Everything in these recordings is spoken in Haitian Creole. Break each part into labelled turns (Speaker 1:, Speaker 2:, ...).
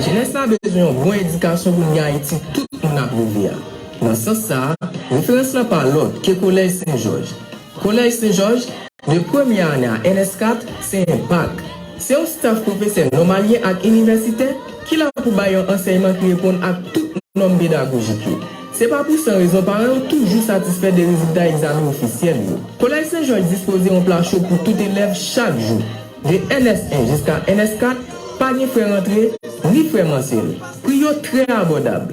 Speaker 1: Jenès la bezwen yon bon edikasyon pou n gen Ayiti tout moun ap reve a. Nan sans sa a, referans la pa lòt ke Kolèj Sen Jòj. Kolèj Sen Jòj. 2 premye ane a NS4 se yon bak. Se yon staf pwofesè nòmalyen ak inivèsitè ki la pou bay yon ansèyman ki reponn ak tout nòm pedagojik yo. Se pa pou san rezon paran yo toujou satisfè de rezilta egzamen ofisyèl yo. Kolèj Sen Jòj dispoze yon pla cho pou tout elèv chak jou. De NS1 jiska NS4, pa gen frè rantre, ni frè mansyèl. Pri yo trè abòdab.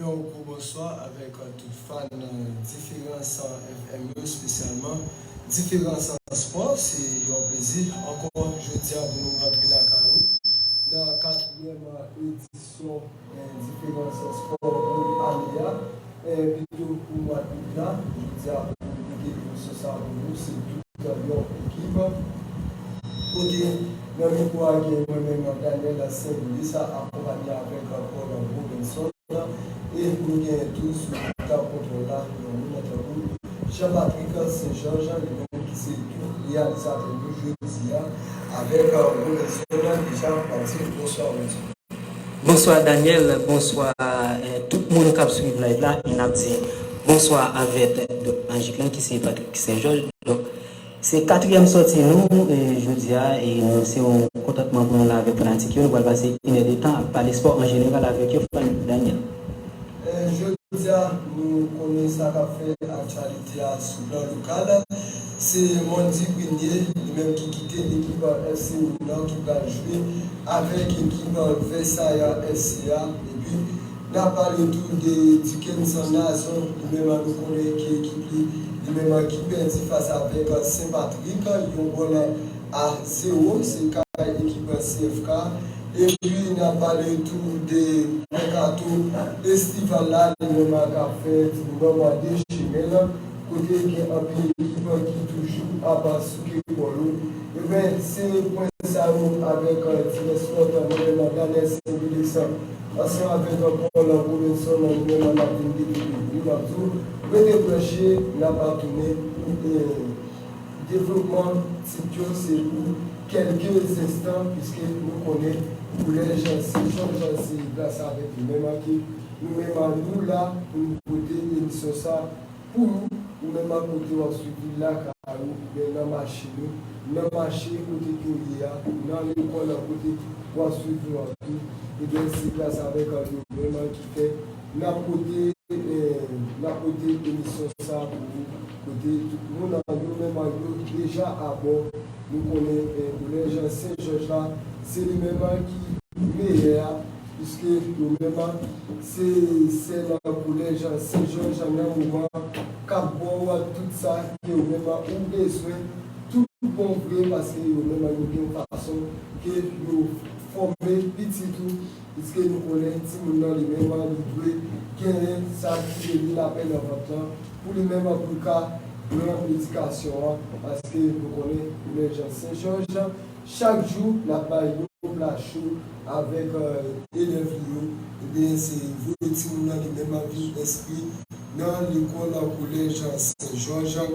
Speaker 2: Yon gwo bonswa avèk tout fan diferans FM yo spesyalman diferans spò se yon plezi ankò jodia pou nou rantre lakay ou nan katriyèm edisyon diferans spò pou ane a. Epito pou mwa d'août la, jodi a pou nou pike emisyon sa pou nou se tout yon ekip kote nan mikwo a gen mwen menm Daniel Saint Louis akonpanye avèk Paul Robinson e nou genyen tou sou tab kontwòl la yon moun nan tankou Jean Patrick Saint Georges li menm ki se tou reyalizatè nou jodi a avèk Robinson deja Mathieu Bonswa Mathieu.
Speaker 3: Bonswa Daniel bonswa tout moun kap swiv live la e nap di bonswa avèk Dòk Majik lan ki se Patrick Saint Georges donk se katriyèm sòti nou jodia e nou se yon kontantman pou nou la avèk fanatik yo nou pral pase inè de tan ap pale spò an jeneral avèk yo Daniel.
Speaker 2: Jodia nou konnen sa kap fè aktyalite a sou plan lokal, se Mondy Prunier li menm ki kite ekip FC Milan ki pral jwe avèk ekip Versailles FC a epi nap pale tou de Dukenson Nazon li menm nou konnen ki ekip li li menm ki pèdi fas avèk Saint Patrick yon gòl a zewo se kay ekip CFK. Epi n ap pale tou de mèkato estival la li menm k ap fèt nan mwa de Jen an kote gen anpil ekip ki toujou ap souke kò yo. Enben, se pwen sa yo avèk divès lòt mwen menm Danès Wilixon ansanm avèk Paul Robinson nou menm n ap vin develope, n ap di w rete branche n ap tounen pou Devlopman tit yo se pou kèlke zenstan piske nou konnen koulè jansi, fòm jansi plas sa avèk li menm an ke nou menm an nou la pou nou pote emisyon sa pou ou, ou menm an kote wap swiv li lakay ou oubyen nan machin ou, nan mache kote ke ou ye a, nan lekòl an kote wap swiv nou an tou, ebyen se plas avèk an yo menm an ki fè. Nap pote Nap pote emisyon sa pou ou kote tout moun an yo menm an yo deja abò nou konnen koulè jan sen jòj la se li menm an ki meyè a piske yo menm an se sèl an koulè jan sen jòj an nan moman an kap ba ou an tout sa ke ou menm an ou bezwen tout bon vre paske yo menm an yo gen yon fason ke yo fòme pitit ou. Piske nou konnen timoun nan li menm an li dwe genyen sa ki rele lapè nan vant lan pou li menm an pou l ka pran medikasyon an paske nou konnen lè jan sen jòj jan chak jou l ap bay yon pla cho avèk elèv li yo ebyen se vre timoun nan li menm an vin enskri nan lekòl kolèj sen jòj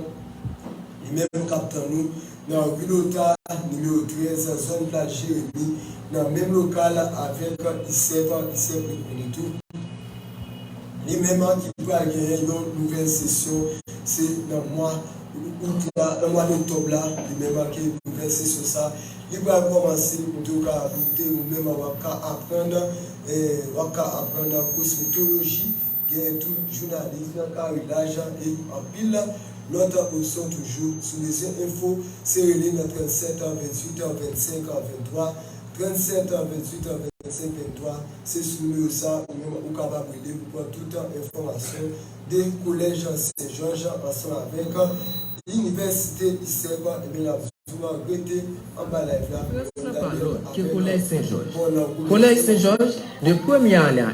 Speaker 2: li menm k ap tann nou nan Ri Lota, nimewo 13, zòn Plaj Jeremi, nan menm lokal avèk ISEP, ISEP rekonet tou li menm ki pral genyen yon nouvèl sesyon, se nan mwa Out la, nan mwa Oktòb la li menm ke nouvèl sesyon sa li pral kòmanse, kote ou ka ajoute ou menm wap ka aprann, wap ka aprann kosmetoloji. Genyen tou jounalis nan kare lajan e anpil lòt opsyon toujou. Si w bezwen enfo, se rele nan 37 an 28 an 25 an 23, 37 an 28 an 25 23, se sou nimewo sa ou menm ou kapab rele pou pran tout enfòmasyon de kolèj Sen Jòj ansanm avèk inivèsite ISEP ebyen n ap di w an rete anba live la pou w ap gade avèk nou bon lankou de
Speaker 1: fè. Kolèj Sen Jòj de premye ane a.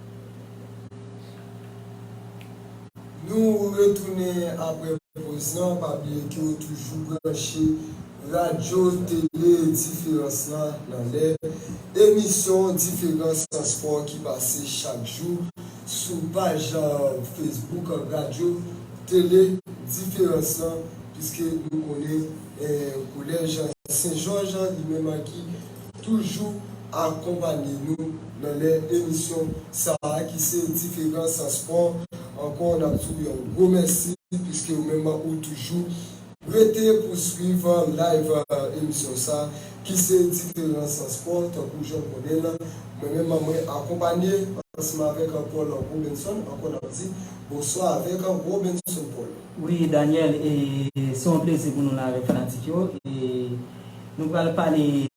Speaker 2: Nou retounen apre poz lan, pa bliye ke ou toujou branche Radyo Tele Diferans la nan lè emisyon Diferans Spò ki pase chak jou sou paj Facebook Radyo Tele Diferans lan, piske nou konnen Kolèj Sen Jòj li menm ki toujou akonpanye nou nan lè emisyon sa a ki se Diferan san Spò ankò n ap di w yon gwo mèsi piske ou menm ou toujou rete pou w swiv live emisyon sa ki se Diferan san Spò tankou jan w konnen l mwen menm mwen akonpanye ansanm avèk Paul Robinson ankò n ap di bonswa avèk Robinson Paul. Wi Daniel e
Speaker 3: se yon plezi pou nou la avèk fanatik yo e. Nou pral pale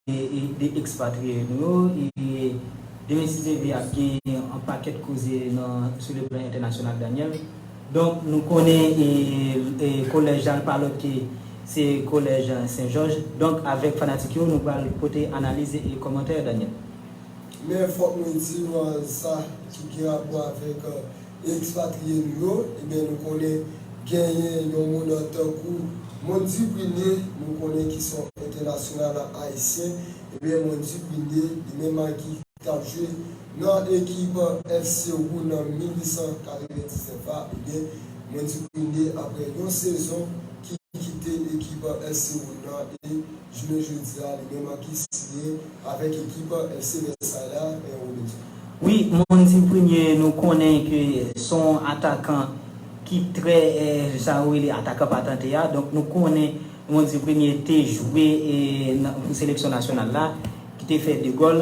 Speaker 3: de ekspatriye nou yo e de Mesi Xavier ap gen yon pakèt koze nan sou le plan entènasyonal Daniel. Donk nou konnen e kolèj la pa lòt ke se kolèj Sen Jòj. Donk avèk fanatik yo nou pral pote analiz e kòmantè Daniel. Men
Speaker 2: fòk mwen di nou sa ki gen rapò avèk e ekspatriye nou yo, ebyen nou konnen genyen yon moun tankou Mond Duprinier, nou konnen ki son entènasyonal ayisyen, ebyen Mond Duprinier li menm a ki tap jwe nan ekip FC Rouen nan 1899 la, ebyen Mond Duprinier aprè yon sezon ki kite ekip FC Rouen nan e. jounen jodi a li menm an ki siye avèk ekip FC Vèsay la, Pè Robic. Wi moun
Speaker 3: di premye nou konnen ke son atakan ki trè sa yo rele atakan patante a donk nou konnen moun di premye te jwe pou seleksyon nasyonal la ki te fè 2 gòl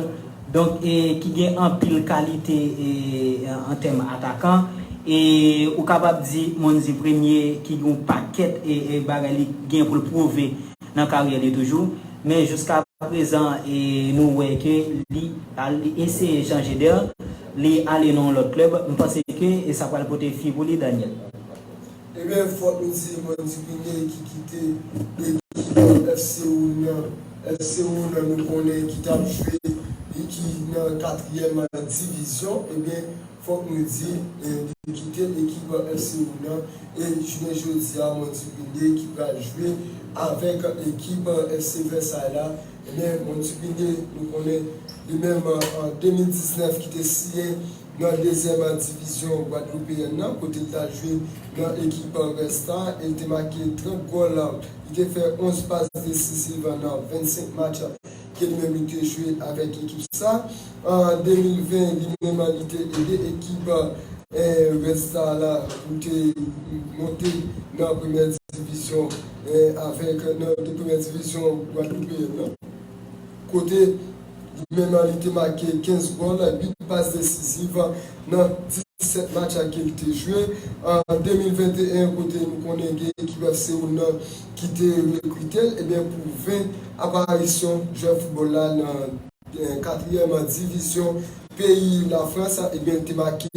Speaker 3: donk ki gen anpil kalite an tèm atakan e ou kapab di moun di premye ki gen yon pakèt bagay li gen pou l pwouve. nan karyè li toujou men jouska prezan nou wè ke li eseye chanje dè li ale nan yon lòt klèb m panse ke sa pral pote fwi pou li Daniel. Ebyen
Speaker 2: fok nou di mwen di Guinée ki kite ekip F Seoul nan F Seoul nan nou konnen ki tap jwe ki nan 4 yèm divizyon ebyen Fòk mwen di, li kite ekip FC Milan e jounen jodi a Montubilie ki pral jwe avèk ekip FC Versailles la. Ebyen Montubilie nou konnen li menm an 2019 ki te siyen nan dezyèm divizyon gwadloupeyèn nan kote li ta jwe nan ekip Red Star e li te make 30 gòl, li te fè 11 pas desisiv nan 25 match. Gen menm li te jwe avèk ekip sa an 2020 li menm an li te ede ekip Red Star la pou te monte nan premyè divizyon avèk nan de premyè divizyon gwadloupeyen an kote li menm an li te make 15 gòl 8 pas desiziv nan 17 match ke li te jwe an 2021 kote nou konnen gen ekip Seoul nan. ki te rekrite l ebyen pou 20 aparisyon jwè foutbòl la nan katriyèm divizyon peyi Lafrans ebyen te make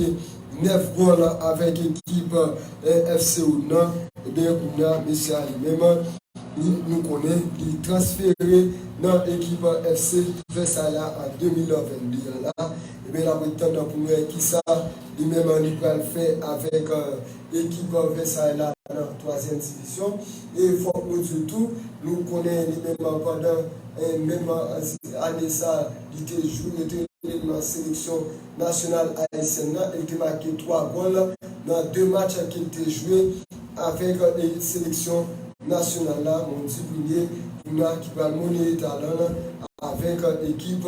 Speaker 2: 9 gòl avèk ekip FC Oud nan ebyen kounye a mesye a li menm nou konnen li transfere nan ekip FC Vèsay la an 2022 an la ebyen n ap ret tann pou nou wè kisa li menm li pral fè avèk Ekip Versailles la nan twazyèm divizyon e fòk nou di w tou, nou konnen li menm pandan menm ane sa li te jwe, yo te rele l nan seleksyon nasyonal ayisyèn nan e li te make twa gòl nan de match ke l te jwe avèk seleksyon nasyonal la, men w di premye pou nou a ki pral moneye talan l avèk ekip.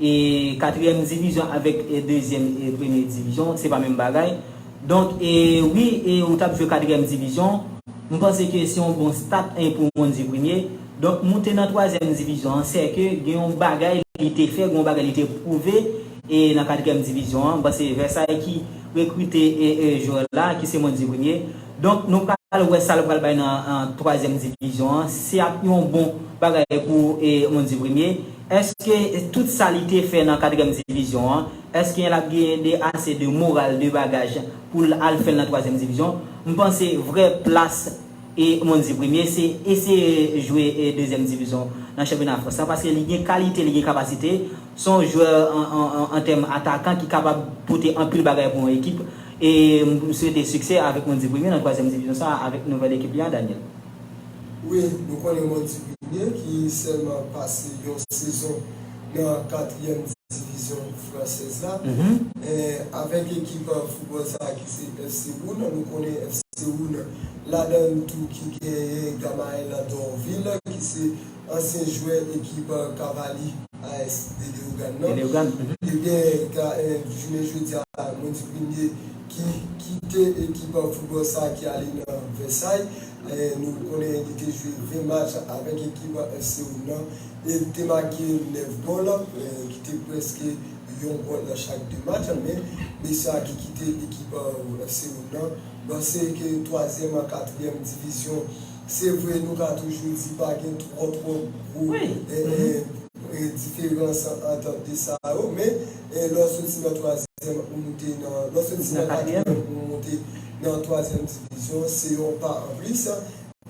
Speaker 3: E katriyèm divizyon avèk e dezyèm e premye divizyon se pa menm bagay. Donk e wi e ou tap jwe katriyèm divizyon. M panse ke se yon bon stat e pou moun di premye. Donk moute nan twazyèm divizyon an sè ke gen yon bagay li te fè, gen yon bagay li te pwouve e nan katriyèm divizyon an. M panse Vèsay ki rekrite e e jwè la ki se moun di premye. Donk nou pral wè sa l pral bay nan twazyèm divizyon an. Se ap yon bon bagay pou e moun di premye. Eske tout sa li te fè nan katrèm divizyon an, esken lap genyen de ase de moral, de bagaj poul al fèl nan twazyèm divizyon? M panse vrè plas e Monzi Premye se eseye jwe e dezyèm divizyon nan chanpyona Frans lan paske li gen kalite, li gen kapasite, son jwè an tèm atakan ki kapab pote anpil bagay pou yon ekip e m swete siksè avèk Monzi Premye nan twazyèm divizyon sa avèk nouvèl ekip li an Daniel. Wi,
Speaker 2: nou konnen Montigny ki sèlman pase yon sezon nan katriyèm divizyon fransèz la, avèk ekip foutbòl sa a ki se FC Rouen. Nou konnen FC Rouen ladan l tou ki genyen Gamael Dorvil ki se ansyen jwè ekip Cavalier AS de Leogane nan. Ebyen, jounen jodi a Montigny ki kite ekip foutbòl sa ki ale nan Vèsay. Nou konnen li te jwe 20 match avèk ekip FC Oum nan e li te make 9 gòl ki te prèske yon gòl nan chak 2 match. Men, mesye sa ki kite ekip FC Oum nan panse ke twazyèm ak katriyèm divizyon, se vre nou ka toujou di pa gen twò twò gwo. diferans ant de sa yo, men lè w soti nan twazyèm ou moute nan, lè w soti nan katriyèm ou moute nan twazyèm divizyon, se yon pa an plis.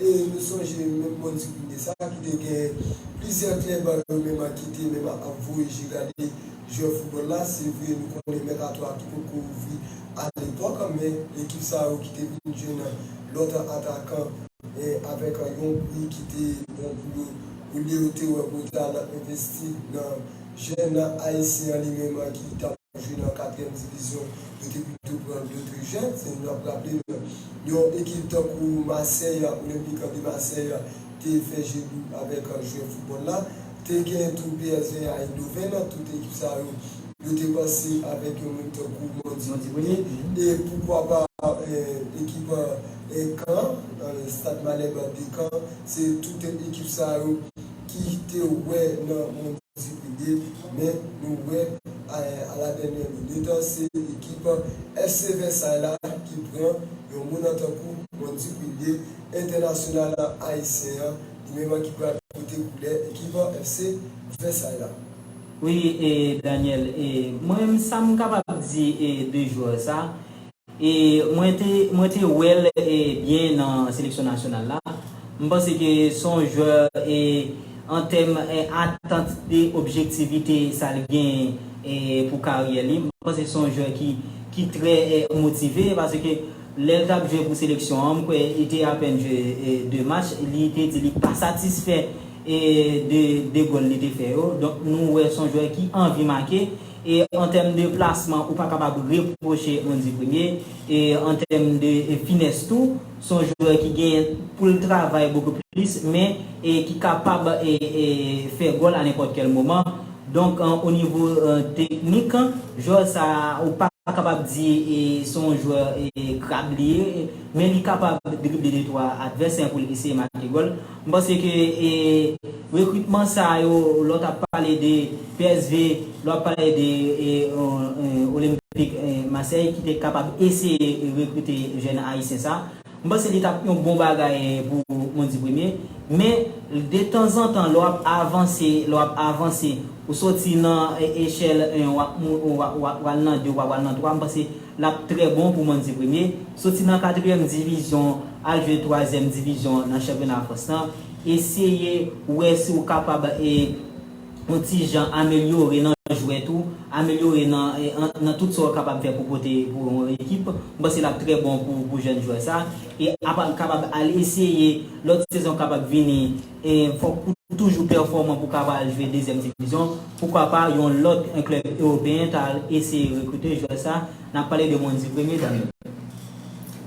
Speaker 2: E nou sonje menm bon Duvine sa ki te gen plizyè klèb yo menm ki te menm ap voye je gade jwè foutbòl la, se vre nou konnen mèkato a ki potko ouvri alepòk, men ekip sa yo ki te vin jwenn lòt atakan. avèk yon pri ki te bon pou yo olye yo te wè pou yo te al envesti nan jèn ayisyen an li menm ki t ap jwe nan katriyèm divizyon, yo te pito pran dotre jèn. Si n ap raple n, yon ekip tankou Masèy, Olympique de Marseille, te fè je dou avèk jwè foutbòl la. Te gen tou psg a Eindhoven nan tout ekip sa yo yo te panse avèk yon moun tankou Mondi Boni e poukwa pa ekip Kan an Stade Malherbe de Kan se tout ekip sa yo ki te wè nan Mondi Boni men nou wè a la dènyè minit se ekip FC Versailles la ki pran yon moun an tankou Mondi Boni entènasyonal ayisyen an Evenman ki pral pote koulè ekip an FC Vèsay la. Wi e
Speaker 3: Daniel e mwen sam kapab di e de jwè sa e mwen te mwen te wèl e byen nan seleksyon nasyonal la m panse ke son jwè e antèm e atant e objektivite sal genyen e pou karyè li m panse son jwè ki ki trè e motive paske Lè l t ap jwe pou seleksyon an, m kwè li te apèn jwe 2 match, li te di li pa satisfè de 2 gòl li te fè yo. Donk nou wè s on jwè ki anvi make e an tèm de plasman ou pa kapab repwoche Andy Premier e an tèm de finès tou s on jwè ki gen pou l travay bokou plis men ki kapab fè gòl a nenpòt kèl moman. Donk o nivo teknik, jwè sa a ou pa kapab di se yon jwè krab li ye, men li kapab drible de twa advèsè pou l eseye make gòl. M panse ke rekritman sa yo, lè w t ap pale de psv, lè w ap pale de Olympique Marseille ki te kapab eseye rekrite jèn ayisyen sa a, M panse li tap yon bon bagay pou Mondy Premier, men de tanzantan lè w ap avanse, lè w ap avanse, ou soti nan echèl 1 w ap mou ou w ap pral nan 2 ou w ap pral nan 3, m panse l ap trè bon pou Mondy Premier. Soti nan katriyèm divizyon al jwe twazyèm divizyon nan chanpyona Frans lan, eseye wè si w kapab e. yon ti jan amelyore nan jwèt ou, amelyore nan tout sa ou kapab fè pou pote pou yon ekip, m panse l ap trè bon pou jèn jwè sa. E apa l kapab al eseye lòt sezon kapab vini, e fòk ou toujou pèfòman pou w kapab al jwe dezyèm divizyon, poukwa pa yon lòt klèb ewopeyen ta al eseye rekrite jwè sa. Nap
Speaker 2: pale de Mondy premye dam yo.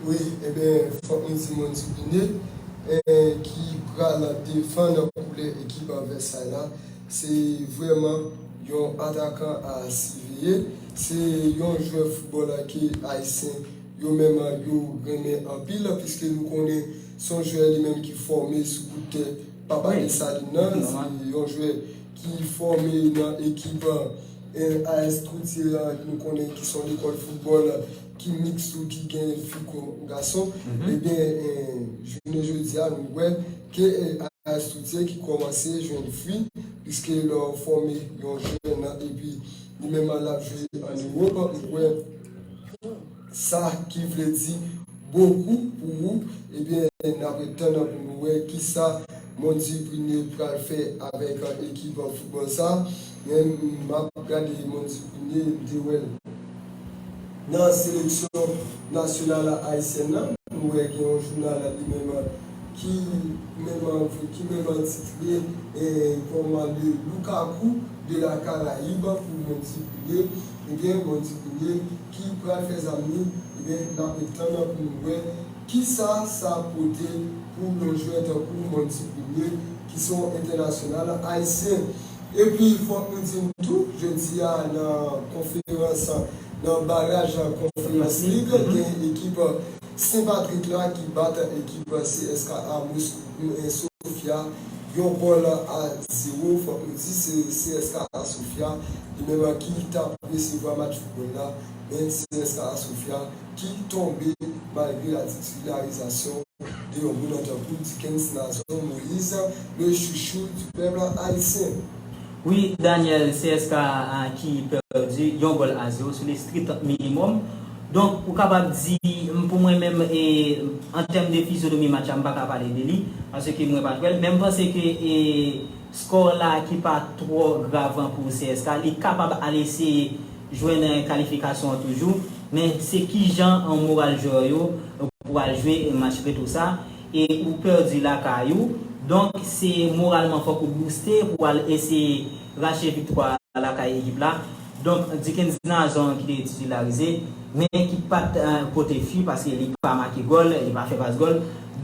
Speaker 2: Wi eben fok nou di Mondy Bine ki pral defann koulè ekip Vèsay la se vrèman yon atakan a siveye, se yon jwè foutbòl ke ayisyen yo menm yo renmen anpil piske nou konnen son jwè li menm ki fòme sou kout tè papa Desalin nan, se yon jwè. ki fòme nan ekip AS Courtier an ke nou konnen ki se yon lekòl foutbòl ki miks tou ki gen fi kon gason ebyen jounen jodi a nou wè ke AS Courtier ki kòmanse jwenn fwi piske lè w fòme yon jèn epi li menm an l ap jwe an Ewòp ou wè Sa ki vle di bokou pou ou ebyen n ap ret tann pou nou wè kisa Mondy Prunier pral fè avèk ekip foutbòl sa men m ap gade Mondy Prunier m te wè l nan seleksyon nasyonal ayisyèn nan m wè gen yon jounal li menm ki menm titre kòm le Lukaku de la Caraïbe pou Mondy Prunier ebyen Mondy Prunier ki pral fè zanmi ebyen nap ret tann nan pou nou wè kisa sa ap pote pou yon jwè tankou Monty Premier ki se yon entènasyonal ayisyen. Epi fòk nou di tou jodi a nan konferans nan baraj konferans lig gen ekip. Sen Patrik la ki bat ekip CSKA Moskou 1 Sofia yon gòl a zewo. Fòk nou di se CSKA Sofia li menm ki tap resevwa match foutbòl la men CSKA Sofia ki tonbe malgre la titularizasyon de yon moun tankou Dikens Nazon Moyiz le chouchou du pèp ayisyen. Wi
Speaker 3: Daniel CSKA a ki pèdi yon gòl a zero sou le strict minimum. Donk ou kapab di m pou mwen menm e an tèm de fizyonomi match la m pa ka pale de li paske mwen pa t wè l men m panse ke e score la ki pa twò grav an pou CSKA li kapab al eseye jwenn kalifikasyon an toujou men se kijan an moral jwè yo pou al jwe match retou sa. e ou pèdi lakay ou, donk se moralman fòk ou bouste pou w al eseye rache viktwa a lakay ekip la, donk Dickens Nazon ki te titilarize, men ki pa t pote fi paske li pa make gòl, li pa fè pas gòl,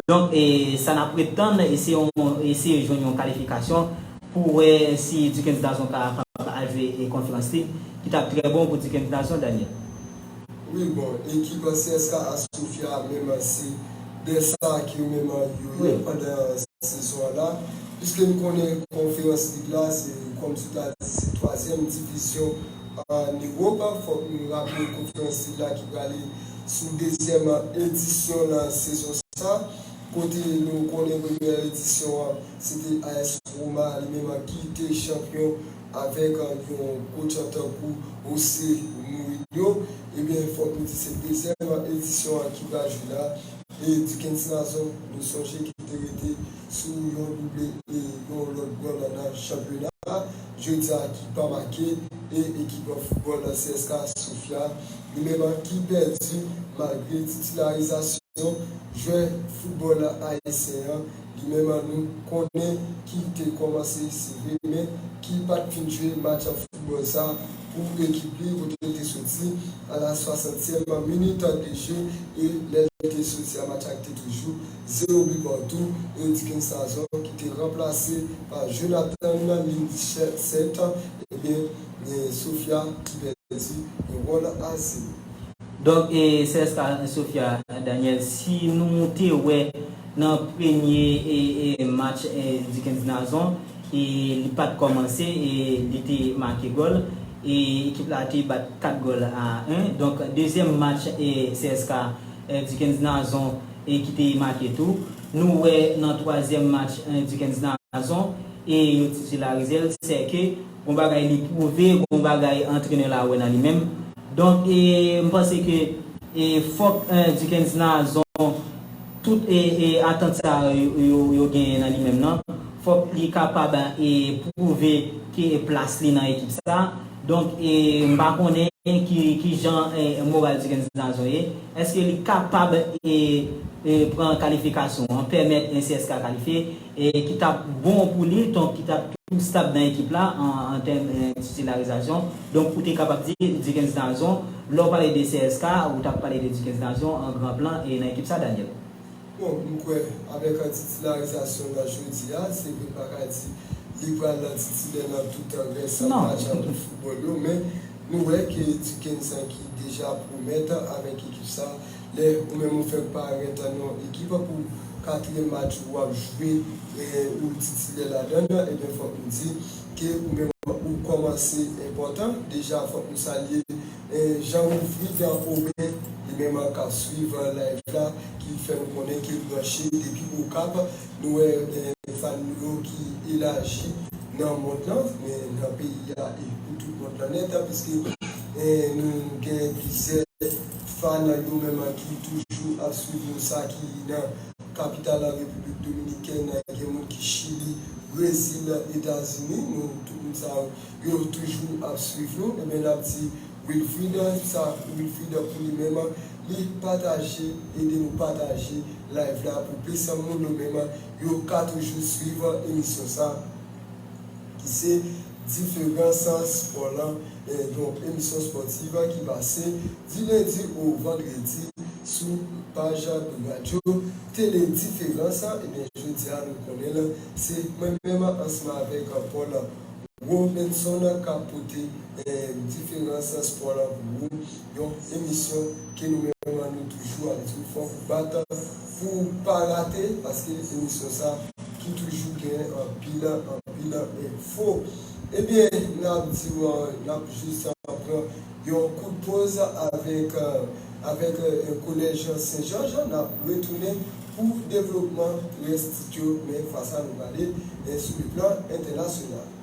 Speaker 3: donk sa n ap ret tann se yon eseye jwenn yon kalifikasyon pou wè si Dickens Nazon ka kapab al jwe Konferans Lig ki t ap trè bon pou Dickens Nazon, Daniel. Wi
Speaker 2: bon ekip an CSKA a Sofia a menm an se dè sa a ke yo menm an yo ye pandan sezon an la piske nou konnen konferans lig la se kòm si w ta di se twazyèm divizyon an Ewop fòk nou raple konferans lig la ki prale sou dezyèm edisyon l nan sezon sa kote nou konnen premyè edisyon an se te AS Roma li menm an ki te chanpyon Avèk yon gwo chan tankou Ou se nouri m yo, ebyen fòk nou di se dezyèm edisyon an ki pral jwe la, e Dikens Nazon nou sonje ki te rete sou yon double e yon lòt gòl nan chanpyona a jodi a ki pa make, e ekip foutbòl nan CSKA Sofia li menm an ki pèdi malgre titilarizasyon jwè foutbòl ayisyen an Li menm an nou konnen ki te kòmanse si vre men ki pat fin jwe match foutbòl sa pou ekip li kote l te soti a la swasantyèm minit de je e lè l te soti a match la te toujou zewo bi patou e Dickens Sazon ki te ranplase pa Jonathan Lincert ebyen gen Sofia ki pèdi yon gòl a zewo. Donk
Speaker 3: e sè sa Sofia Daniel si nou te wè. Nan premye match Dickens Nazon li pat kòmanse e li te make gòl e ekip la te bat 4 gòl a 1. Donk dezyèm match CSKA Dickens Nazon ki te make tou. Nou wè nan twazyèm match Dickens Nazon e yo titularize l sè ke gon bagay li pwouve, gon bagay antrenè la wè nan li menm Donk e m panse ke e fòk Dickens nan azon tout e e atant sa yo yo genyen nan li menm nan. Fòk li kapab e pwouve ke e plas li nan ekip sa. Donk e m pa konnen ki ki jan e moral Dickens nan azon ye. Eske li kapab e e pran kalifikasyon an, pèmèt e CSKA kalifye? e ki tap bon pou li donk ki tap tou stab nan ekip la an tèm titilarizasyon donk ou te kapab di Dikens Nazon lè ou pale de CSK ou tap pale de Dikens Nazon an gran plan e nan ekip sa Daniel. Bon m kwè
Speaker 2: avèk titilarizasyon nan jodi a se vre m pa ka di li pral nan titilè nan tout rès match foutbòl yo men nou wè ke Dikens ki deja pwomèt avèk ekip sa. Lè ou menm ou fèk parèt nan yon ekip pou katriyèm match ou ap jwe ou titilè ladan l, ebyen fòk nou di ke ou menm ou kòmanse enpòtan. Deja fòk nou salye Jean Wilfrid Aubin li menm kap swiv live la ki fè nou konnen ke l branche depi Okap. Nou wè fan nou yo ki elaji nan mond lan, nan peyi a e pou tout mond lan nèt, piske nou gen plizyè. Fan nan yo menm an ki toujou ap swiv nou sa ki nan kapital la Repiblik Dominikèn nan gen moun ki Chili, Brezil, Etazini nou tout moun sa yo yo toujou ap swiv nou ebyen nap di Wilfrid sa Wilfrid pou li menm an li pataje ede nou pataje live la pou plis moun yo menm yo ka toujou swiv emisyon sa. ki se Diferan Sal Spò lan, yon emisyon spòtiv ki pase di lendi ou vandredi sou paj radyo tele Diferans. Ebyen jodi a nou konnen l se mwen menm ansanm avèk Paul Robinson k ap pote Diferans Spò lan pou ou. Yon emisyon ke nou menm lan nou toujou ap diw fòk ou bat pouw pa rate paske emisyon sa ki toujou gen anpil anpil enfo. Ebyen nap diw nap jis pran yon kout poz avèk avèk kolèj senjòj nap retounen pou devlopman rès tit yo men fwa sa nou prale sou le plan entènasyonal.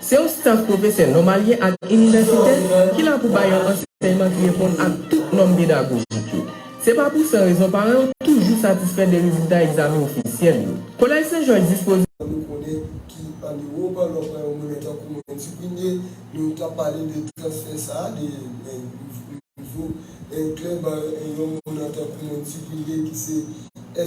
Speaker 1: Se yon staf pwofesè nòmalyen ak inivèsitè ki la pou bay yon ansèyman ki reponn ak tout nòm pedagojik yo. Se pa pou san rezon paran yo toujou satisfè de rezilta egzamen ofisyèl yo. Kolèj Sen Jòj dispoze. Nou konnen ki
Speaker 2: an Ewop, lè w pran yon monnen tankou monnen Dupigné, nou ta pale de transfè sa a, de nivo klèb yon monnen tankou monnen Dupigné ki se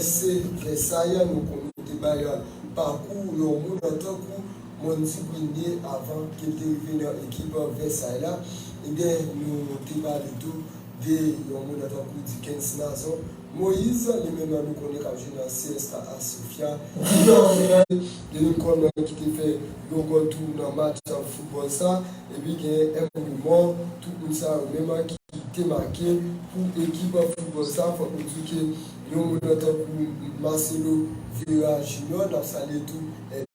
Speaker 2: SC Vèsay, nou konnen te bay pakou yon monnen tankou. Mwen di premye avan ke l te rive nan ekip Vèsay la, ebyen nou te pale tou de yon mounn tankou Dikens Nazon Moyiz, li menm nou konnen k ap jwe nan CSKA Sofya, ki te antrenè de lekòl mwen ki te fè yon gòl tou nan match foutbòl sa, epi gen M. Remor, tout mounn sa yo menm ki te make pou ekip foutbòl sa. Fòk nou di ke yon mounn tankou Marcelo Vera Junior, n ap salye tou.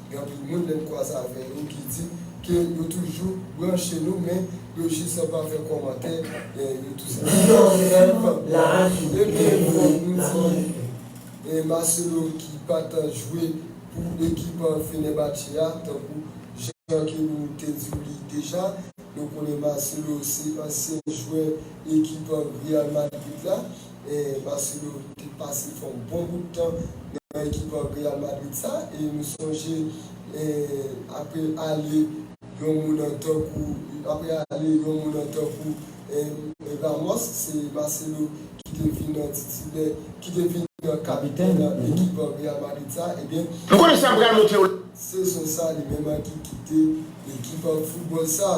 Speaker 2: Gen anpil moun lè n kwaze avè yo ki di ke yo toujou branche nou men yo jis pa fè kòmantè, yo tou senpman rep. Ebyen fòk nou di Marcelo ki pa t jwe pou ekip Fenerbahçe a tankou jan ke nou te di w li deja, nou konnen Marcelo se ansyen jwè ekip Real Madrid la. Marcelo te pase fè yon bon bout tan nan ekip Real Madrid sa e nou sonje apre ale yon mounan tankou apre ale yon mounan tankou Ramos se Marcelo ki te vin titilè ki te vin kapitèn ekip Real Madrid sa ebyen Nou konnen sa m pral montre w la. Sezon sa li menm ki kite ekip foutbòl sa.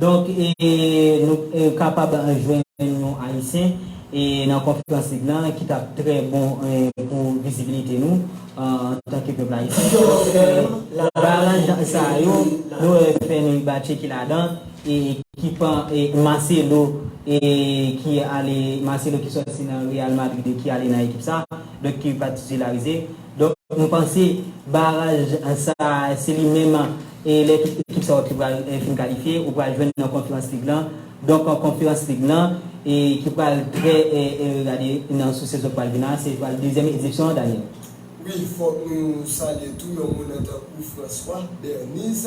Speaker 3: Donk, nou kapab jwenn yon Ayisyen nan konferans lig la ki t ap trè bon pou vizibilite nou antanke pèp ayisyen. Donk, balanj sa a yo, nou wè Fenouil Batje ki ladan, ki pan Marcelo ki ale, Marcelo ki sòti nan Real Madrid e ki ale nan ekip sa a, donk ki pa titularize. Donk nou panse baraj sa se li menm e lè tout ekip sa yo te pral fin kalifye ou pral jwenn nan konferans lig lan. Donk konferans lig lan e ki pral trè regade nan sou sezon k pral vin la se pral dezyèm edisyon an Daniel. Wi fòk
Speaker 2: nou salye tou yon moun an tankou François Berniz.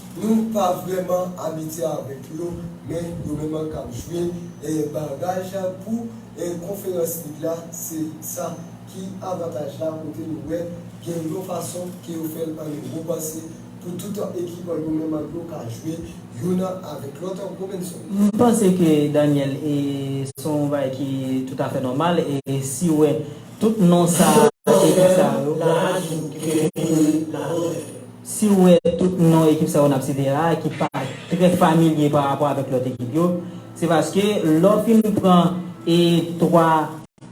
Speaker 2: Nou pa vrèman abitye avèk yo, men yo menm an k ap jwe baraj pou konferans lig la, se sa ki avantaj la kote nou wè gen yon fason ke yo fè l an Ewop se pou tout ekip yo menm an yo ka jwe youn avèk lòt Robinson. M panse ke
Speaker 3: Daniel e se yon bagay ki toutafè nòmal e si wè tout non sa ekip sa yo. Nan laj nou ki te vin nan Lòt Èv yo. Si ou wè tout non ekip sa yo n ap site la a ki pa trè familye pa rapò avèk lòt ekip yo, se paske lè w fin pran e 3,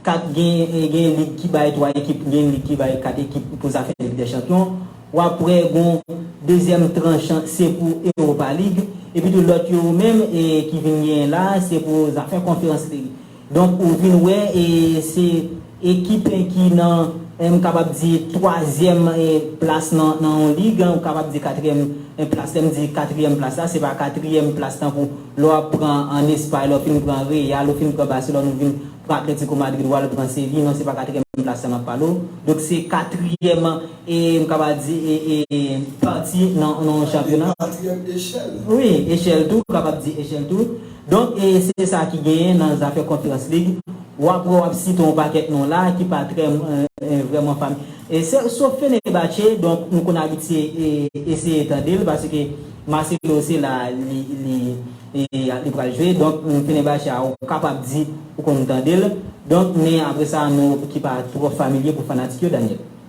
Speaker 3: 4 gen gen lig ki bay 3 ekip, gen lig ki bay 4 ekip pou zafè lig dè chanpyon, w ap wè gon dezyèm tranch se pou Europa League, epitou lòt yo menm e ki vin genyen la a se pou zafè Conference League. Donk ou vin wè e se ekip ki nan m kapab di twazyèm plas nan yon lig, ou kapab di katriyèm plas. Lè m di katriyèm plas la, se pa katriyèm plas tankou lè w ap pran an Espay, lè w fin pran Real, ou fin pran Baselòn, ou vin pran Atletico Madrid, w al pran Sevi. Non, se pa katriyèm plas sa n ap pale w. Donk se katriyèm e m kapab di e pati nan yon chanpyona. Katriyèm echèl.
Speaker 2: Wi, echèl tou,
Speaker 3: ou kapab di echèl tou. Donk se sa ki genyen nan zafè Conference League, ou ap wè w ap site yon pakèt non la ki pa trè vrèman fam e se sof Fenerbahçe, donk nou konn abitye eseye tande l paske Marcelo se la li pral jwe, donk Fenerbahçe a ou kapab di ou konn tande l, donk men apre sa non ki pa twò familye pou fanatik yo Daniel.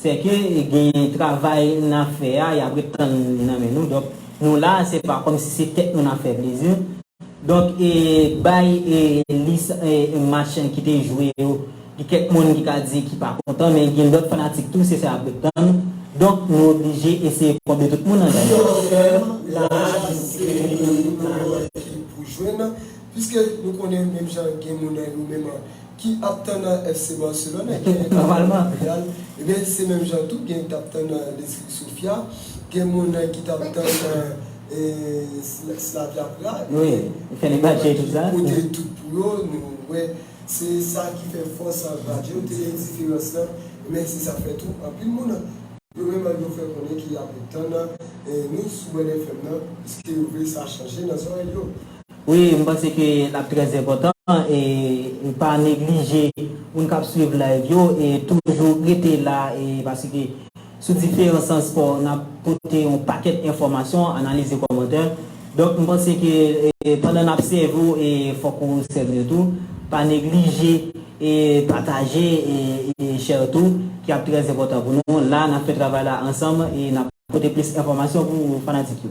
Speaker 3: Sè ke gen travay na fè a yap ret tann li nan men nou donk nou la se pa kòm si se tèt nou na fè plezi donk e bay e lis e match ki te jwe yo gen kèk moun ki ka di ki pa kontan men gen lòt fanatik tou se sa yap ret tann donk nou oblije eseye konble tout moun nan Ki lòt tèm la ki te
Speaker 2: gen nan ekip la ki pou jwenn piske nou konnen menm jan gen moun nan nou menm ki ap tann nan FC Barcelone, gen ki ap tann nan
Speaker 3: Real, ebyen
Speaker 2: se menm jan tou gen ki t ap tann nan Leski Sofia, gen moun ki t ap tann nan Slavia Prague, Fenerbahçe
Speaker 3: tout sa. Yo pote tout pou yo,
Speaker 2: nou wè se sa ki fè fòs Badio yo te diferans lan, ebyen se sa k fè tou anpil moun yo menm an yo fè konnen ki ap tann nan News sou Red FM nan, pske yo vle sa chanje nan zòrèy yo. Wi m panse
Speaker 3: ke lap trè enpòtan e pa neglije moun kap swiv live yo e toujou rete la e paske sou diferan sans spò nap pote yon pakèt enfòmasyon analize kòmantè donk m panse ke pandan nap sèvi w e fòk ou sèvi yo tou pa neglije e pataje e share tou ki ap trè enpòtan pou nou la nap fè travay la ansanm e nap pote plis enfòmasyon pou fanatik yo.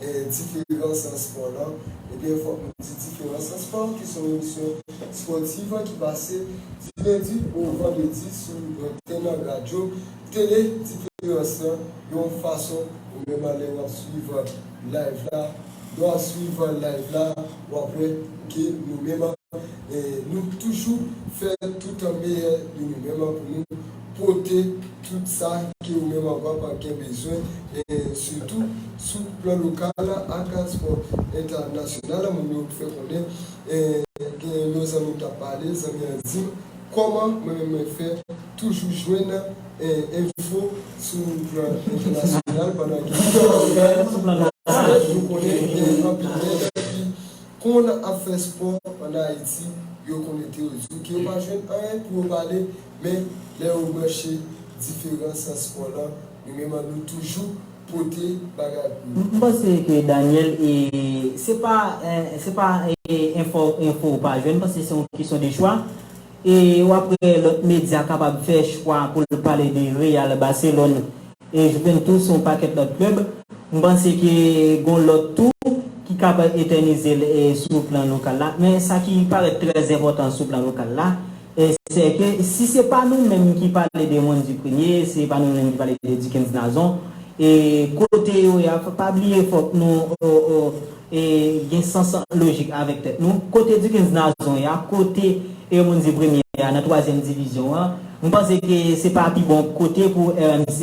Speaker 2: Diferans nan spò lan, Ebyen fòk nou di Diferans nan spò ki son emisyon spòtiv ki pase di lendi o vandredi sou antèn radyo tele Diferans lan yon fason ou menm a lè wap swiv live la lè wap swiv live la wap wè ke nou menm nou toujou fè tout meyè de nou menm pou nou pote tout sa ke ou menm ak wap gen bezwen e sitou sou plan lokal la ak aspè entènasyonal la moun yo fè konnen e gen yon zanmi m tap pale zanmi an dim kòman mwen menm mwen fè toujou jwenn enfo sou plan entènasyonal pandan gen anpil ògán nou konnen gen anpil nèg ki konn ap fè spò an Ayiti yo konekte yo di w ke yo pa jwenn anyen pou yo pale Men, lè yo branche diferan sans kò lan, nou menm an nou toujou pote bagay pou yo. M panse ke
Speaker 3: Daniel e se pa se pa enfo ou pa jwenn panse se yon kesyon de chwa e ou aprè lòt medya kapab fè chwa pou l pale de Real Barcelone E Juventus se yon pakèt lòt klèb. M panse ke gon lòt tou ki kab etènize l sou plan lokal la. Men sa ki parèt trè enpòtan sou plan lokal la, sè ke si se pa nou menm ki pale de Wendy Prenier, se pa nou menm ki pale de Duckens Nazon, e kote yo ye a, pa bliye fòk nou. e gen sans lojik avèk tèt nou, kote Duckens Nazon ya, kote Hermonde Premye ya nan twazyèm divizyon an, m panse ke se pa pi bon kote pou RMC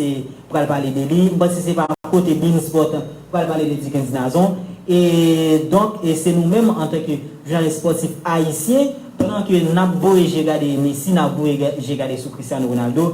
Speaker 3: pral pale de li, m panse se pa kote Beansport pral pale de Duckens Nazon, e donk e se nou menm antan ke jounalis spòtif ayisyen, pandan ke n ap voye je gade Messi, n ap voye je gade sou Cristiano Ronaldo,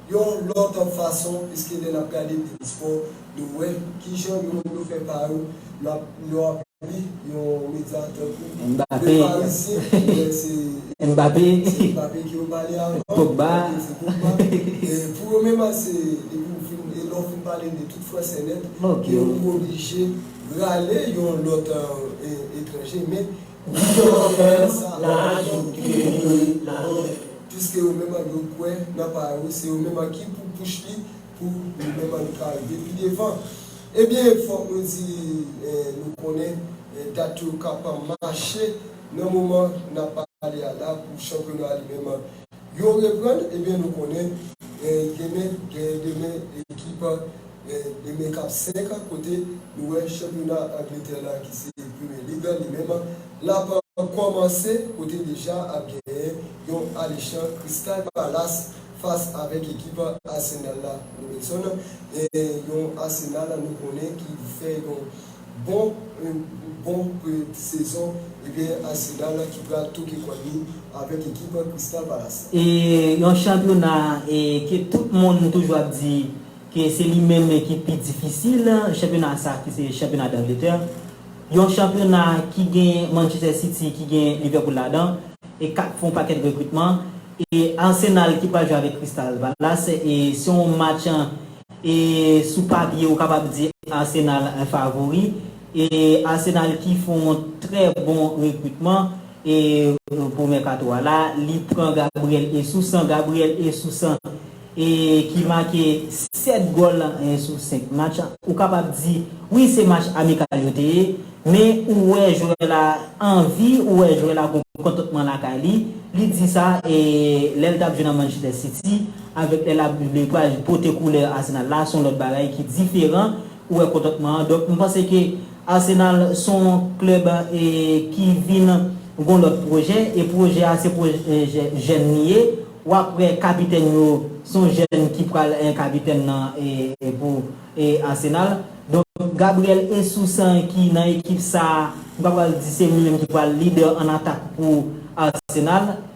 Speaker 2: Yon lòt fason, piske lè n ap gade tout spò, nou wè ki jan yo menm yo fè pa yo, lè w ap li yon medya tankou Le Parisien, ou wè
Speaker 3: se Mbappé ki yo
Speaker 2: pale avan, se Pogba, pou yo menm se depi ou fin, e lè w fin pale de tout fransè nèt, yo oblije rale yon lòt etranje men. Jije yo fèm nan raje yo kite yo mouri nan mizè. Piske yo menm an yo kwè nan pa yo se yo menm an ki pou pouch li pou li menm an ka rive pi devan. Ebyen fòk nou di nou konnen dat yo ka pa mache nan moman nap pale a la pou chanpyona li menm an Yo reprann ebyen nou konnen gen demen gen demen ekip gen demen kap 5 kote nou wè chanpyona angletè la ki se premye lig an li menm lap kòmanse kote deja ap genyen yon alechan Crystal Palace fas avèk ekip Arsenal la Robenson e yon Arsenal nou konnen ki fè yon Bon bon pre sezon ebyen Arsenal ki pral toke kòn li avèk ekip Crystal Palace. E yon chanpyona
Speaker 3: e ke tout moun toujou ap di ke se li menm ki pi difisil, chanpyona sa ki se chanpyona Dangletè. Yon chanpyona ki gen Manchester City, ki gen Liverpool ladan e kap fè yon pakèt rekritman. E Arsenal ki pral jwe avèk Crystal Palace e se yon match E sou papye ou kapab di Arsenal favori. E Arsenal ki fè yon trè bon rekritman e pou mèkato a la, li pran Gabriel Jesus an, Gabriel Jesus an e ki make 7 gòl sou 5 match. Ou kapab di wi se match amikal yo te ye, men ou wè jwè la anvi, ou wè jwè la gon kontantman lakay li. Li di sa e lè l t ap jwe nan Manchester City. Avèk lè la le pral pote koulè Arsenal la son lòt bagay ki diferan ou wè kontantman an donk m panse ke Arsenal son klèb ki vin gon lòt pwojè e pwojè a se pwojè jèn li ye wap wè kapitèn yo son jèn ki pral kapitèn nan pou Arsenal donk Gabriel Esus ki nan ekip sa m pa pral di se li menm ki pral lidè an atak pou Arsenal.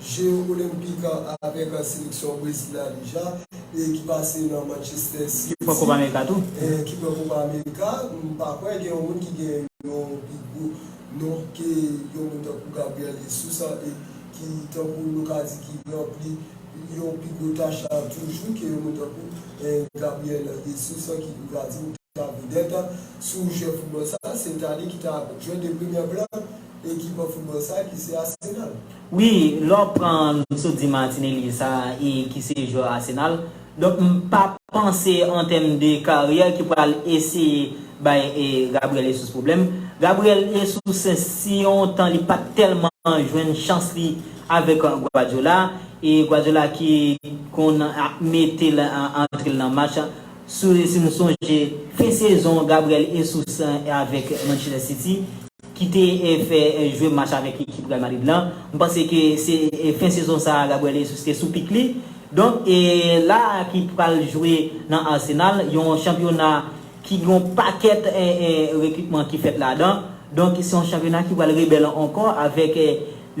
Speaker 2: Jeu Olympic an avèk seleksyon Brezil la deja e ki pase nan Manchester City. Ki pran Copa America tou.
Speaker 3: Ki pran Copa
Speaker 2: America. M pa kwè gen yon moun ki gen yon pi gwo non ke yon moun tankou Gabriel Jesus an e ki tankou nou ka di ki ranpli yon pi gwo tach la toujou ke yon moun tankou Gabriel Jesus an ki nou ka di nou ta vedèt sou jeu football sa. Se ta li ki ta jeu de premier plan ekip football sa ki se Arsenal. Wi lè w
Speaker 3: pran nou sot di Martinelli sa e ki se jwè Arsenal donk m pa panse an tèm de karyè ki pral eseye bay Gabriel Jesus pwoblèm. Gabriel Jesus si yon tan li pat tèlman jwenn chans li avèk Guardiola e Guardiola ki konn mete l antre l nan match si nou sonje fen sezon Gabriel Jesus avèk Manchester City. ki te fè jwe match avèk ekip Real Madrid lan, m panse ke se fen sezon sa a Gabriel Jesus te sou pik li, donk e la a ki pral jwe nan Arsenal, yon chanpyona ki gen yon pakèt rekritman ki fèt ladan, donk se yon chanpyona ki pral rebèl ankò avèk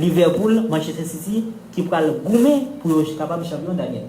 Speaker 3: Liverpool, Manchester City ki pral goumen pou yo kapab chanpyon Daniel.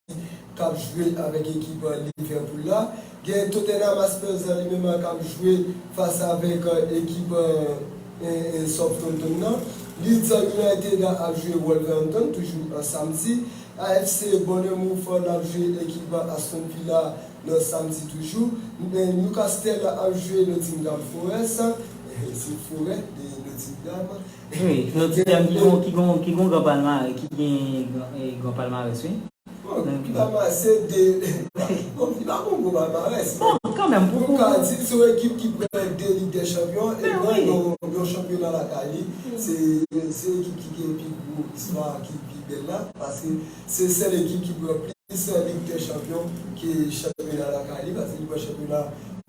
Speaker 2: k ap jwe avèk ekip Liverpool la. Gen Tottenham Hotspurs li menm a k ap jwe fas avèk ekip Southampton nan. Leeds United ap jwe Wolverhampton toujou samdi. AFC Bournemouth l ap jwe ekip Aston Villa nan samdi toujou. Newcastle ap jwe Nottingham Forest. Wi, nou ti
Speaker 3: tèm ki gon ki gon gran palmare ki gen gran palmarès wi. Bon, ki
Speaker 2: palmarès se de bon li pa gon gwo palmarès. Bon, kanmèm pou pou. Nou
Speaker 3: ka di se yon ekip ki
Speaker 2: pran 2 lig dè chanpyon e pran yon chanpyona lakay li. Se se ekip ki gen pi gwo istwa ki pi bèl la paske se sèl ekip ki pran plis lig dè chanpyon ke chanpyona lakay li paske li pran chanpyona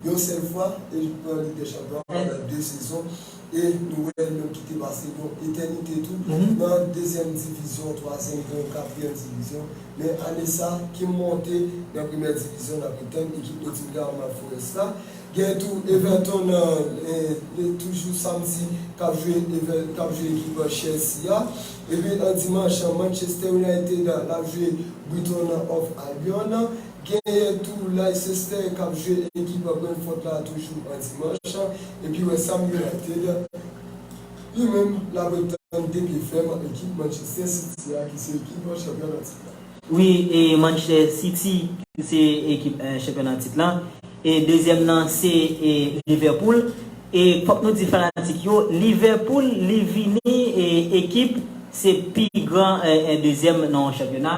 Speaker 2: yon sèl fwa e li pran lig dè chanpyon pandan 2 sezon. E nou wè l menm kite pase yon etènite tou nan dezyèm divizyon, twazyèm pwen, katriyèm divizyon. Men ane sa, Kim monte nan premyè divizyon n ap etann ekip Nottingham Forest la. Gen tou Everton nan toujou samdi k ap jwe k ap jwe ekip Chelsea a. Epi dimanch Manchester United l ap jwe Brighton and Hove Albion. Genyen tou Leicester kap jwe ekip Brentford la toujou an dimanch epi West Ham United li menm lap ret tann 2 pye fèm ak ekip Manchester City a ki se ekip chanpyon nan tit la. Wi e
Speaker 3: Manchester City ki se ekip chanpyon nan tit lan e dezyèm nan se e Liverpool e fòk nou di fanatik yo Liverpool li vini e ekip se pi gran e dezyèm nan yon chanpyona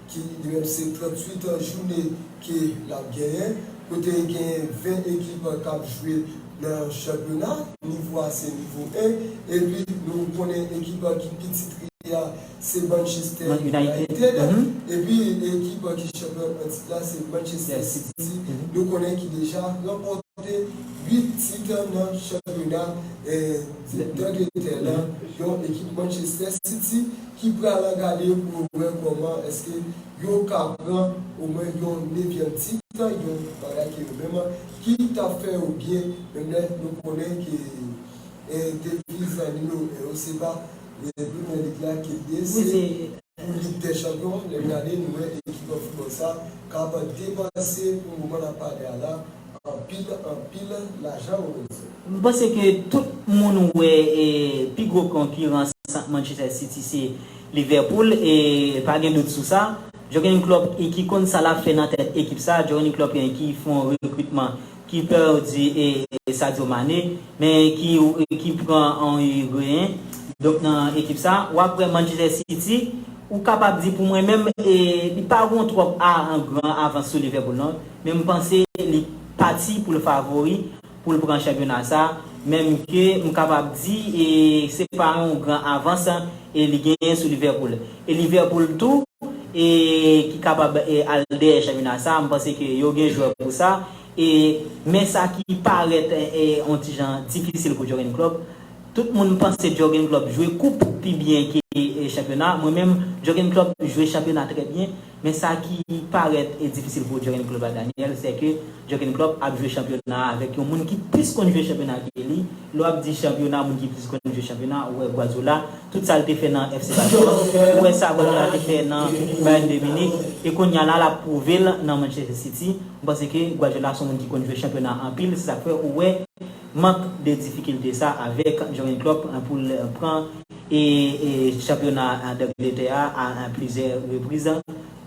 Speaker 2: ki mdrem se 38 an joune ke lap genyen, kote genyen 20 ekip kap jwe nan chanpyona, nivo a se nivo 1, epi nou konnen ekip ki pi titre a se Manchester United, epi ekip ki chanpyon an tit la se Manchester City, nou konnen ki deja ranpòte 8 tit nan chanpyona Dangletè la, yon ekip Manchester City. ki pralan gade pou yo wè kòman èske yo ka pran omwen yon nevyèm tit, yon bagay ke yo menm ki ta fè yo byen, menm lè nou konnen ke deviz nimewo 1 yo se pa Premyè Lig la ke li ye, se pou Lig dè Chanpyon an. Lè n gade, nou wè ekip foutbòl sa k ap depanse pou moman n ap pale a la. Anpil anpil lajan Lorenzo. M panse ke
Speaker 3: tout moun wè pi gwo konkiran sant Manchester City se Liverpool e pa gen dout sou sa. Jurgen Klopp ki konn sa lap fè nan tèt ekip sa, Jurgen Klopp ki fon rekritman ki
Speaker 4: pèdi Sadio Mane men ki pran on Higuain donk nan ekip sa wap wè Manchester City ou kapab di pou mwen menm li pa gon twòp a gran avans sou Liverpool non. Men m panse li pati pou l favori pou l pran chanpyona sa, menm ke m kapab di e se pa yon gran avans e li genyen sou Liverpool. E Liverpool tou e ki kapab e al dèyè chanpyona sa, m panse ke yo gen jwè pou sa e men sa ki parèt e yon ti jan difisil pou Jurgen Klopp, tout moun panse Jurgen Klopp jwe koup pi byen ke chanpyona, mwen menm Jurgen Klopp jwe chanpyona trè byen, Men sa ki parèt difisil pou Jurgen Klopp la Daniel, sè ke Jurgen Klopp ap jwe chanpyona a avèk yon moun ki plis konn jwe chanpyona ke li. Lè w ap di chanpyona, moun ki plis konn jwe chanpyona, ou wè Guardiola, tout sa l te fè nan FC Barcelone, ou wè sa Guardiola te fè nan Bayern de Munich, e kounya la l ap pwouve l nan Manchester City. M panse ke Guardiola son moun ki konn jwe chanpyona anpil, se sa k fè ou wè mank de difikilte sa avèk Jurgen Klopp pou l pran. e chanpyona Dangletè a a plizyè repriz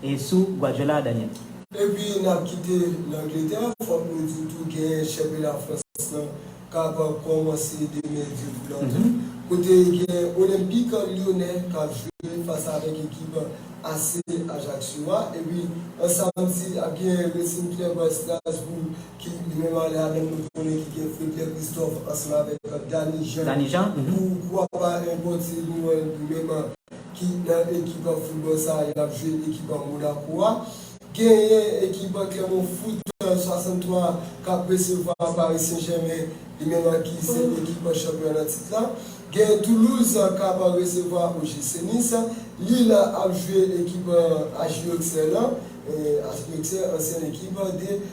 Speaker 4: e sou Guardiola Daniel. Epi n ap
Speaker 2: kite Langletè, fòk nou di tou gen chanpyona Frans lan k ap kòmanse demen dye pou nan tou, kote gen Olenpik Lyonè k ap jwe fas avèk ekip AC Ajaccio a, epi an samdi ap gen Racing Club Strasbourg Ki li menm ale avèm nou konnen ki gen Fredlè Kristòf ansanm avèk Dani Jan. Dani Jan mhm. Pou kwa pa enpòtil nou wèl li menm ki nan ekip foutbòl sa a lap jwe ekip Monako a. Genyen ekip Clermont Foot 63 kap resevwa Paris Saint Germain li menm ki se ekip chanpyon nan tit la. Gen Toulouse kap resevwa OGC Nice. Lille ap jwe ekip Ajiyoksè lan, Ajiyoksè ansyen ekip de.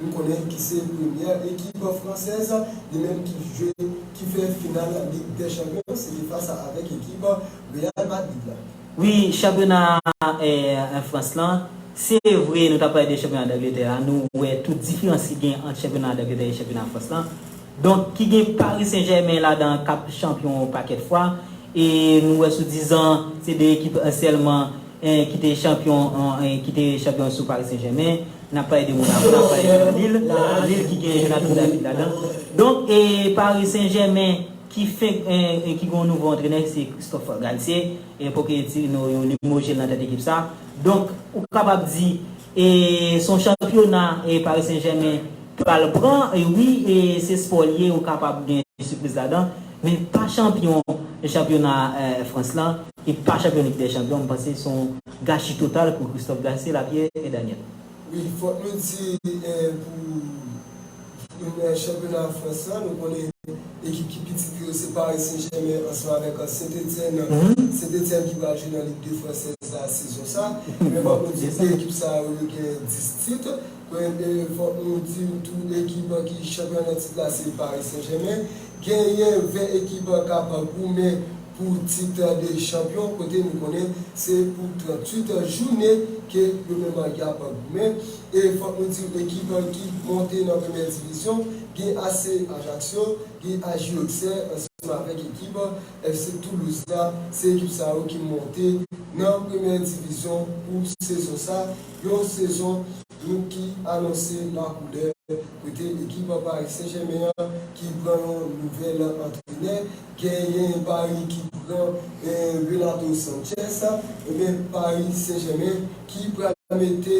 Speaker 2: Nou konnen ki se premyè ekip fransèz li menm ki jwe ki fè final lig dè chanpyon
Speaker 4: se te fas a avèk ekip Real Madrid la. Wi chanpyona en France lan se vre nou tap pale de chanpyona d'Angleterre a nou wè tout diferans ki gen ant chanpyona d'Angleterre e chanpyona France lan donk ki gen Paris Saint Germain ladan kap chanpyon yon pakèt fwa e nou wè sou 10 ans se 2 ekip sèlman ki te chanpyon ki te chanpyon sou Paris Saint Germain. N ap pale de Monako, n ap pale de yon lil, yon lil ki gen Jonathan David ladan. Donk, Paris Saint-Germain ki fenk ki gen yon nouvo antrenè ki se Christophe Galtier, Pochettino yo limoje l nan tèt ekip sa. Donk, ou kapab di se yon chanpyona Paris Saint-Germain pral pran. Wi, se spò l ye, ou kapab gen sipriz ladan. Men l pa chanpyon chanpyona Frans lan, li pa chanpyon Lig dè Chanpyon. M panse se yon. Gachi total pou Christophe Garcé la Pierre et Daniel. Wi fòk nou
Speaker 2: di pou chanpyona Frans lan nou konnen ekip ki pi titre yo se Paris Saint Germain ansanm avèk Saint Etienne, Saint Etienne ki pral jwe nan Ligue 2 Française la sezon sa men fòk nou di 2 ekip sa yo yo gen 10 titre. Kwènte, fòk nou di w tou ekip an ki chanpyon nan tit la se Paris Saint Germain. Genyen 20 ekip k ap goumen pou tit de chanpyon kote nou konnen se pou 38 jounen ke yo menm y ap goumen. E fòk nou di w ekip ki monte nan premyè divizyon gen AC Ajaccio, gen AJ Auxerre ansanm avèk ekip FC Toulouse la. Se ekip sa yo ki monte nan premyè divizyon pou sezon sa. Yon sezon dwoup ki anonse nan koulè kote ekip Paris Saint Germain an ki pran yon nouvèl antrenè, genyen Paris ki pran Renato Sanchez, ebyen Paris Saint Germain ki pral mete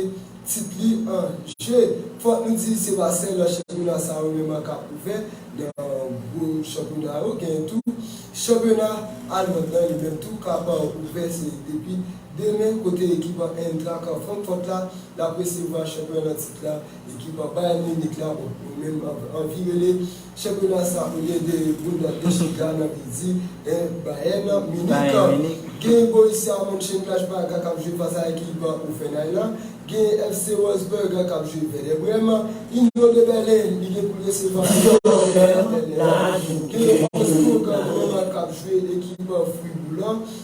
Speaker 2: tit li an je. Fòk nou di se pa sèl chanpyona sa yo menm k ap ouvè nan gwo chanpyona yo, genyen tou chanpyona almand lan li menm tou k ap ouvè se depi Demen, kote ekip an Eintracht an Frankfurt la l ap resevwa chanpyon nan tit la, ekip an Bayern Munich la, bon, yo menm anvi rele chanpyona sa olye de Bundesliga nan vle di Bayern Munich. Gen Borussia Mönchengladbach la k ap jwe fas a ekip Hoffenheim la, gen FC Wolfsburg la k ap jwe Werder Bremen, Union de Berlin li gen pou l resevwa Union Berlin, gen Augsburg Roma k ap jwe ekip Fribourg la.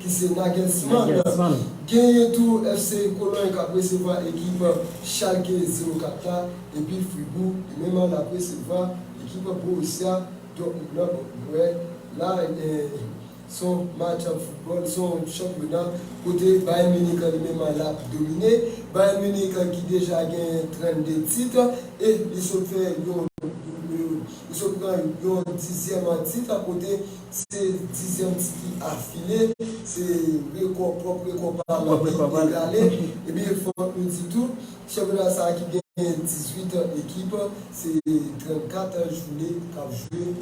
Speaker 2: ki se Nagelsmann, genyen tou FC Cologne k ap resevwa ekip Schalke 04 la epi Fribourg li menm l ap resevwa ekip Borussia Dortmund nan. Bon, nou wè la se yon match up football, se yon chanpyona kote Bayern Munich li menm l ap domine. Bayern Munich ki deja genyen 32 tit e li sot fè yon, li sot pran yon dizyèm tit kote. Se dizyèm titi afile, se rekò pwòp rekò pa l lan ki egale. Ebyen fòk nou di tou, chanpyona sa ki genyen 18 ekip, se 34 joune k ap jwe.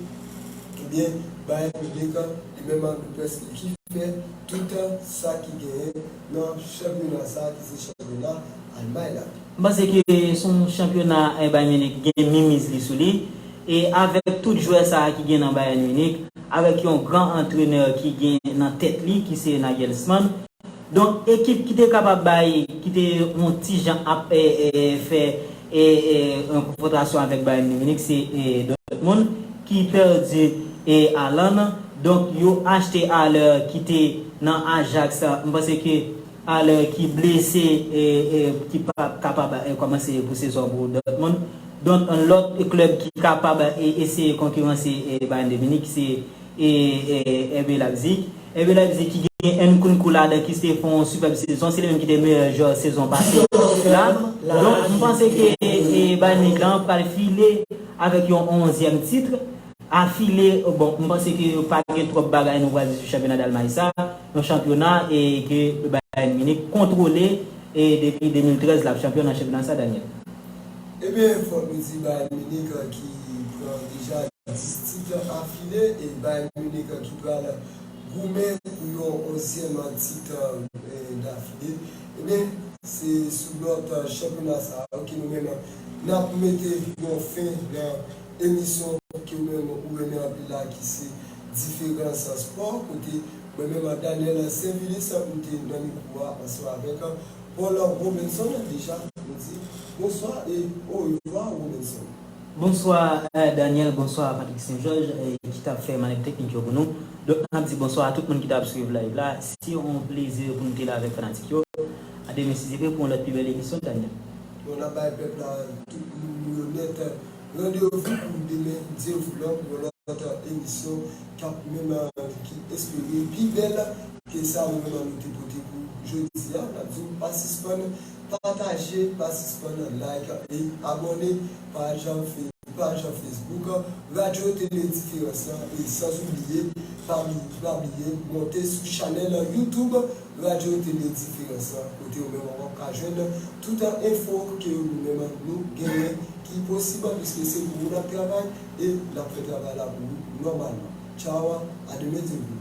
Speaker 2: Ebyen Bayern Munich li menm ak Boupès li ki fè tout sa ki genyen nan chanpyona sa ki se chanpyona Almay la. M panse ke se
Speaker 4: yon chanpyona Bayern Munich gen minmiz li sou li e avèk tout jwè sa ki gen nan Bayern Munich, avèk yon gran antrenè ki gen nan tèt li ki se Nagelsmann, donk ekip ki te kapab bay, ki te yon ti jan ap fè yon konfwontasyon avèk Bayern Munich se Dortmund ki pèdi Haaland, donk yo achte Haller ki te nan Ajax, m panse ke. Alè ki blese e ki pa kapab kòmanse pou sezon pou Dortmund. Donk lòt klèb ki kapab eseye konkiranse Bayern de Munich se RB Leipzig. RB Leipzig ki gen Nkunku ladan ki te fè yon sipèb sezon, se li menm ki te meyè jwè sezon pase la. Donk m panse ke Bayern Munich la pral file avèk yon onzyèm titre. Afile, bon, m panse ke pa gen twòp bagay nou pral di sou chanpyona Dalmay sa, yon chanpyona e ke Bayern Munich kontwole e depi 2013 l ap chanpyon nan chanpyona sa, Daniel. Ebyen,
Speaker 2: fòk nou di Bayern Munich ki pran deja 10 tit afile e Bayern Munich ki pral goumen pou yon onzyèm tit dafile, ebyen, se sou lòt chanpyona sa ke nou menm n ap mete yon fen nan. emisyon ke mwen wè ou renmen anpil la ki se Diferans an Spò kote mwen menm ak Daniel Sainvilus nou te nan mikwo a ansanm avèk Paul Robinson deja nou di bonswa e orevwa Robinson. Bonswa
Speaker 4: Daniel, bonswa Patrick Saint Georges ki tap fè manèv teknik yo pou nou. Donk nap di bonswa a tout moun ki tap swiv live la, se yon plezi pou nou te la avèk fanatik yo. A demen si Dye vle pou yon lòt pi bèl emisyon Daniel. Bon nap bay
Speaker 2: pèp la tout moun yo nèt. Randevou pou demen Dieuvlot pou yon lòt emisyon kap menm ki espere pi bèl ke sa nou menm nou te pote pou jodi a. Nap di w pa sispann pataje, pa sispann like e abòne paj paj Facebook Radio Télé Différence lan e san oubliye pa bliye monte sou chanèl YouTube Radyo yo te de diferans lan kote yo menm wap ka jwenn tout an enfo ke yo nou menm an nou genyen ki posib an piske se pou ou nap travay e nap fè travay la pou ou nòmalman. Chawa a demen te vle.